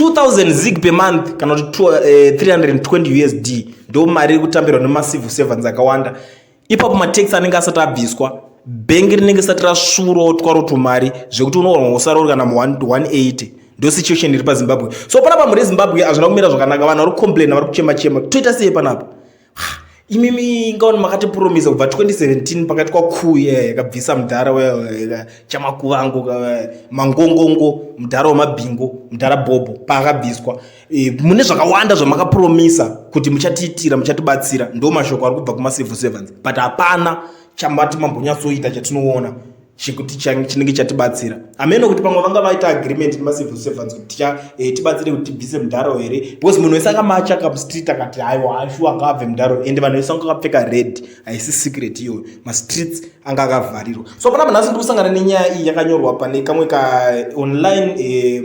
2000 zig per month kana kuti 320 eh, usd ndo mari iri kutambirwa nemacivil servants akawanda ipapo matax anenge asati abviswa bhengi rinenge sati rasvurootwa rotumari zvekuti unoorwa usarori kana mu 180 ndo situation iri pazimbabwe so panapa muri zimbabwe hazvina kumira zvakanaka vanhu vari kucomplaina vari kuchema chema toita sei panapa imimi ingaona makatipromisa kubva 2017 pakati kwakuya yakabvisa mudhara chamakuvango mangongongo mudhara wemabhingo mudhara bhobho paakabviswa e, mune zvakawanda zvamakapromisa kuti muchatiitira muchatibatsira ndo mashoko ari kubva kumacivil servants but hapana chamati mambonyatsoita chatinoona chekuti chinenge chatibatsira hameno kuti pamwe vanga vaita agreement nemacivil servants kuti ticha eh, tibatsire kuti tibvise mudharo here because munhu wese akamachaka mustreet akati haiwa hashu anga abve mudharo ende vanhu vese vanga akapfeka red haisi secret iyoyo mastreets anga akavharirwa so panapa nhasi ndiri kusangana nenyaya iyi yakanyorwa pane kamwe ka eh, online eh,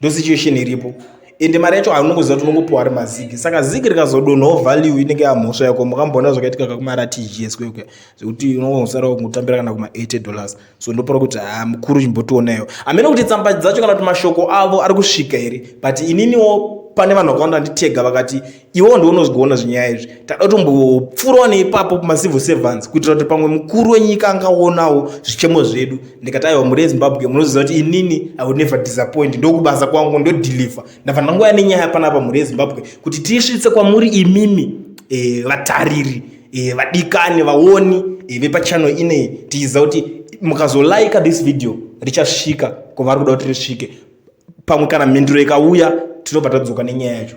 ndosituation iripo ende mari yacho anongoziva kuti unongopiwa ari mazigi saka zigi rikazodonhawo value inenge yamhosva yako mukamboona zvakaitika kakumaratgs kwekwe zvekuti unongosara kutambira kana kuma 80 dollars so ndopara kuti ha mukuru chimbotionaiwo hamene kuti tsamba dzacho kana kuti mashoko avo ari kusvika here but ininiwo pane vanhu vakawanda nditega vakati iwewo ndiwo unozvigoona zvinyaya izvi tada kutombopfuurawo neipapo kumacivil servants kuitira kuti pamwe mukuru wenyika angaonawo zvichemo zvedu ndikati aiwa muri ezimbabwe munoziva kuti inini i would never disappoint ndokubasa kwangu ndodhilivha ndafanira nguva nenyaya panapa muri ezimbabwe kuti tiisvitse kwamuri imimi e, vatariri e, vadikani vaoni e, vepachano inei tichiziva kuti mukazolaika this video richasvika kwavari kuda kuti risvike pamwe kana mhinduro ikauya tinobva tadzoka nenyaya yacho